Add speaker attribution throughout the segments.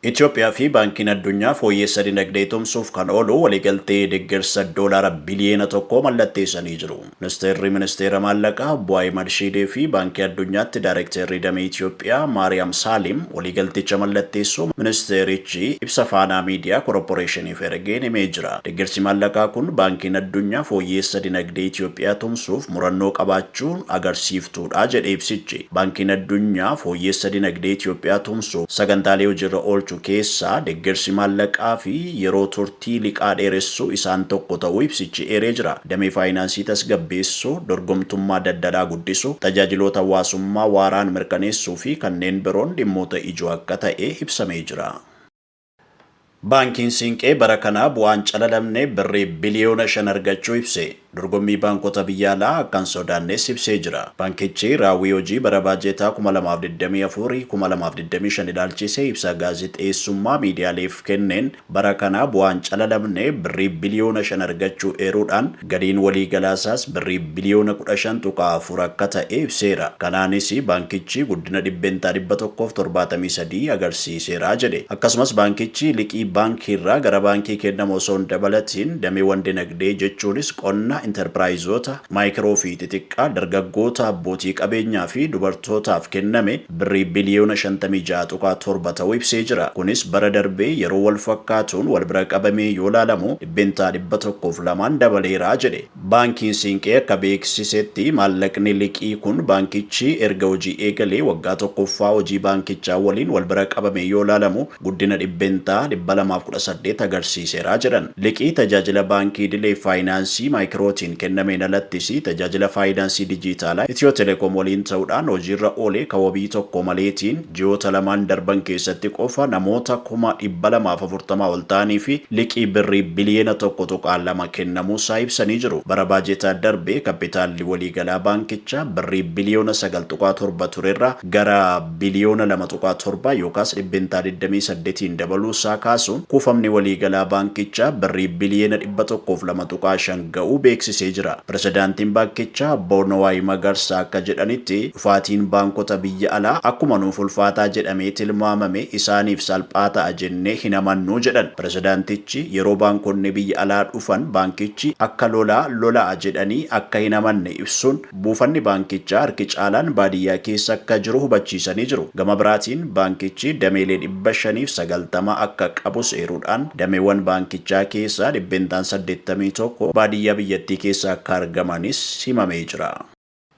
Speaker 1: Itiyoophiyaa fi Baankiin Addunyaa fooyyeessa dinagdee tumsuuf kan oolu waliigaltee deggersa Doolaara biliyeena tokkoo mallatteessanii jiru. Ministeerri Ministeera Maallaqaa Obbo Ahimad Shiidee fi Baankii Addunyaatti Daarekteerri Damee Itiyoophiyaa Maariyaam Saaliim waliigalticha mallatteessuu ministeerichi ibsa Faanaa Miidiyaa Koroporeeshiniif ergeen himee jira. Deggersi maallaqaa kun Baankiin Addunyaa fooyyeessa dinagdee Itiyoophiyaa tumsuuf murannoo qabaachuu agarsiiftuu dha. tuudha jedhe ibsichi. Baankiin Addunyaa fooyyeessa dinagdee Itiyoophiyaa tumsuuf sagantaalee hojiirra oolchu keessaa deggersi maallaqaa fi yeroo turtii liqaa dheeressuu isaan tokko ta'uu ibsichi eeree jira. Damee faayinaansii tasgabbeessuu, dorgomtummaa daldalaa guddisuu, tajaajiloota hawaasummaa waaraan mirkaneessuu fi kanneen biroon dhimmoota ijoo akka ta'e ibsamee jira. Baankiin Siinqee bara kana bu'aa hin calalamne Birrii biliyoona 5 argachuu ibse. Dorgommii baankota biyya alaa akka hin sodaannes ibsee jira. Baankichi raawwii hojii bara baajeetaa 2024, 2025 ilaalchisee ibsa gaazexeessummaa miidiyaaleef kenneen bara kana bu'aa hin calalamne Birrii biliyoona 5 argachuu eeruudhaan, Galiin waliigalaasaas Birrii biliyoona 15.4 akka ta'e ibseera. Kanaanis baankichi guddina dhibbentaa 173 agarsiiseera jedhe. Akkasumas baankichi liqii baankiirraa gara baankii kennamu osoo hin dabalatiin dameewwan dinagdee jechuunis qonna, intarpiraayizoota, maayikiroo fi xixiqqaa, dargaggoota, abbootii qabeenyaa fi dubartootaaf kenname Birrii biliyoona 56.7 ta'uu ibsee jira. Kunis bara darbee yeroo walfakkaatuun walbira qabamee yoo ilaalamu dhibbeentaa dhibba tokkoo fi lamaan dabaleera jedhe. Baankiin Siinqee akka beeksisetti maallaqni liqii kun baankichi erga hojii eegalee waggaa tokkoffaa hojii baankichaa waliin wal bira qabamee yoo ilaalamu guddina dhibbeentaa dhibba lamaa fi kudha saddeet agarsiiseera jedhan. Liqii tajaajila baankii idilee faayinaansii maayikirootiin kennameen alattis tajaajila faayinaansii dijiitaalaa Itiyoo Telekoom waliin ta'uudhaan hojiirra oole ka wabii tokko maleetiin Ji'oota lamaan darban keessatti qofa namoota kuma dhibba lamaa fi afurtama ol ta'aniif liqii Birrii biliyoona tokko tuqaa lama kennamuusaa ibsanii jiru. Bara baajetaa darbe kappitaalli waliigalaa baankichaa Birrii biliyoona sagal tuqaa torba turerraa gara biliyoona lama tuqaa torba yookaas dhibbentaa digdamii saddetiin dabaluusaa kaasuun, kuufamni waliigalaa baankichaa Birrii biliyoona 102.5 ga'uu beeksisee jira. Pirezidaantiin baankichaa Obbo Nuwaay Magarsaa akka jedhanitti, dhufaatiin baankota biyya alaa akkuma nuuf ulfaataa jedhamee tilmaamame isaaniif salphaa ta'a jennee hin amannu jedhan. Pirezidaantichi yeroo baankonni biyya alaa dhufan baankichi akka lolaa lola'a jedhanii akka hin amanne ibsuun, Buufanni baankichaa harki caalaan baadiyyaa keessa akka jiru hubachiisanii jiru. Gama biraatiin baankichi dameelee dhibba shanii fi sagaltama akka qabus eeruudhaan, dameewwan baankichaa keessaa dhibbeentaan saddeettamii tokko baadiyyaa biyyattii keessa akka argamanis himamee jira.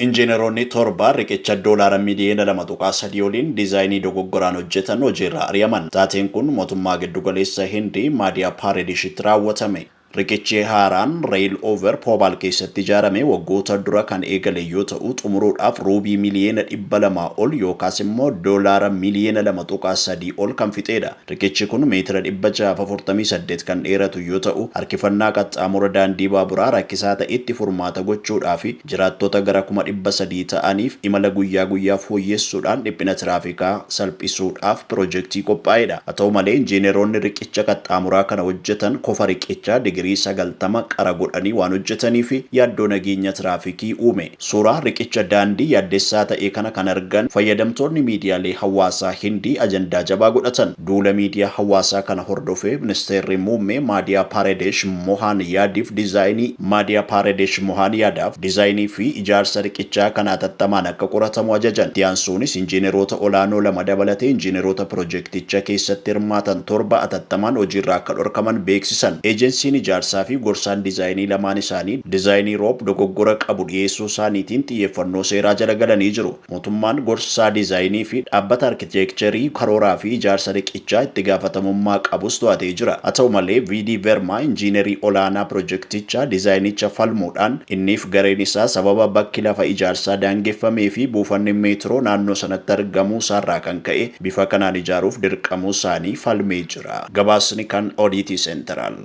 Speaker 1: Injiinaroonni torba riqicha doolaara miliyoona lama tuqaa sadii oliin dizaayinii dogoggoraan hojjetan hojiirraa ari'aman. Taateen kun mootummaa giddugaleessa Hindii Maadiyaa Paareedishitti raawwatame. Riqichi haaraan Rail Over Pobal keessatti ijaarame waggoota dura kan eegale yoo ta'u, xumuruudhaaf Ruubii miliyeena 200 ol yookaas immoo Doolaara miliyeena 2.3 ol kan fixeedha. Riqichi kun meetira 648 kan dheeratu yoo ta'u, harkifannaa qaxxaamura daandii baaburaa rakkisaa ta'etti furmaata gochuudhaafi. Jiraattota gara kuma dhibba sadii ta'aniif imala guyyaa guyyaa fooyyessuudhaan dhiphina tiraafikaa salphisuudhaaf pirojektii qophaa'edha. Haa ta'u malee, injiineroonni riqicha qaxxaamuraa kana hojjetan kofa riqichaa digirii sagaltama qara godhanii waan hojjetaniif yaaddoo nageenya tiraafikii uume. Suuraa riqicha daandii yaaddessaa ta'e kana kan argan fayyadamtoonni miidiyaalee hawaasaa Hindii ajandaa jabaa godhatan. Duula miidiyaa hawaasaa kana hordofee Ministeerri Muummee Maadiyaa Paaredesh Mohaan Yaadiif Dizaayinii Maadiyaa Paaredesh Mohaan Yaadaaf Dizaayinii fi Ijaarsa Riqichaa kana atattamaan akka qoratamu ajajan. Itti aansuunis Injiineroota olaanoo lama dabalatee Injiineroota Pirojekticha keessatti hirmaatan torba atattamaan hojiirraa akka dhorkaman beeksisan. Eejensiin Ijaarsaa fi Gorsaan Dizaayinii lamaan isaanii Dizaayinii Rob dogoggora qabu dhiyeessuu isaaniitiin xiyyeeffannoo seeraa jala galanii jiru. Mootummaan gorsaa diizaayinii fi dhaabbata arkiteekcherii karooraa fi ijaarsa riqichaa itti gaafatamummaa qabus to'atee jira. Haa ta'u malee, VD Verma injiinerii olaanaa pirojektichaa diizaayinicha falmuudhaan inniif gareen isaa sababa bakki lafa ijaarsaa daangeffamee fi buufanni meetiroo naannoo sanatti argamuu isaarraa kan ka'e bifa kanaan ijaaruuf dirqamuu isaanii falmee jira. Gabaasni kan Odiitii Seenteraal.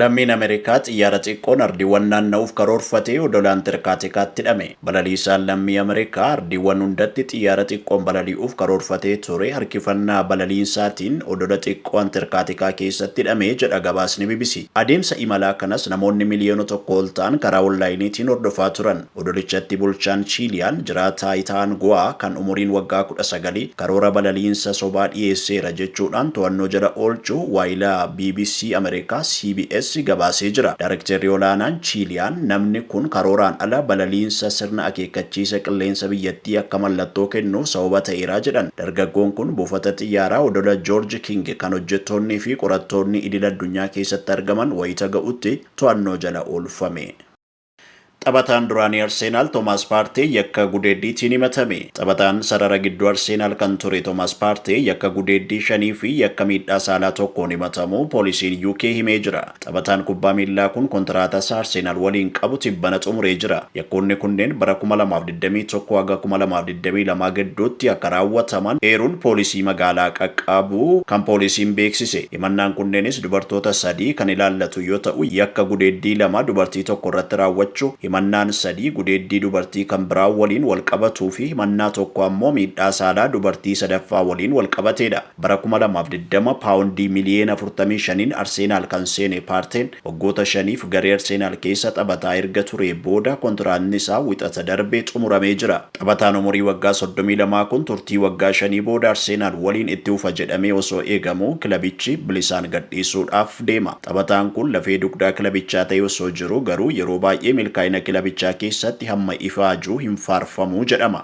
Speaker 1: Lammiin Ameerikaa xiyyaara xiqqoon ardiiwwan naanna'uuf karoorfate Odola Antarkaatikaatti hidhame. Balaliisaan lammii Ameerikaa ardiiwwan hundatti xiyyaara xiqqoon balali'uuf karoorfatee ture harkifannaa balaliinsaatiin odola xiqqoo Antarkaatikaa keessatti hidhame jedha gabaasni bbc. Adeemsa imalaa kanas namoonni miliyoona tokko ol ta'an karaa onlaayiniitiin hordofaa turan. Odolichatti bulchaan Chiiliyaan jiraa taayitaa Anguwaa kan umuriin waggaa kudha sagal karoora balaliinsa sobaa dhiyeesseera jechuudhaan to'annoo jala oolchuu waayila bbc Ameerikaa CBS gabaasee jira. Daarekteerri olaanaan Chiiliyaan namni kun karooraan ala balaliinsa sirna akeekkachiisa qilleensa biyyattii akka mallattoo kennuuf sababa ta'eera jedhan. Dargaggoon kun buufata xiyyaaraa odola Joorji King kan hojjettoonnii fi qorattoonni idil addunyaa keessatti argaman wayita ga'utti to'annoo jala oolfame. Taphataan duraanii Arseenaal Toomaas Paartee yakka gudeeddiitiin himatame. Taphataan sarara gidduu Arseenaal kan ture Toomaas Paartee yakka gudeeddii shanii fi yakka miidhaa saalaa tokkoon himatamuu poolisiin UK himee jira. Taphataan kubbaa miillaa kun kontiraatasaa Arseenaal waliin qabu tibbana xumuree jira. Yakkoonni kunneen bara kuma lamaa fi digdamii tokko haga kuma lamaa fi digdamii lama gidduutti akka raawwataman eeruun poolisii magaalaa qaqqabuu kan poolisiin beeksise. Himannaan kunneenis dubartoota sadii kan ilaallatu yoo ta'u, yakka gudeeddii lama dubartii tokko irratti raawwachuu, himannaan sadii gudeeddii dubartii kan biraa waliin walqabatuu fi himannaa tokko ammoo miidhaa saalaa dubartii sadaffaa waliin walqabateedha. Bara kuma lamaa fi digdama paawondii miliyeena afurtamii shaniin Arseenaal kan seene Paarteen, Waggoota shaniif garee Arseenaal keessa taphataa erga turee booda kontiraatni isaa Wixata darbe xumuramee jira. Taphataan umurii waggaa soddomii lamaa kun turtii waggaa shanii booda Arseenaal waliin itti fufa jedhamee osoo eegamuu kilabichi bilisaan gadhiisuudhaaf deema. Taphataan kun lafee dugdaa kilabichaa ta'ee osoo jiruu garuu yeroo baay'ee milkaa'ina kilabichaa keessatti hamma ifaaju hin faarfamu jedhama.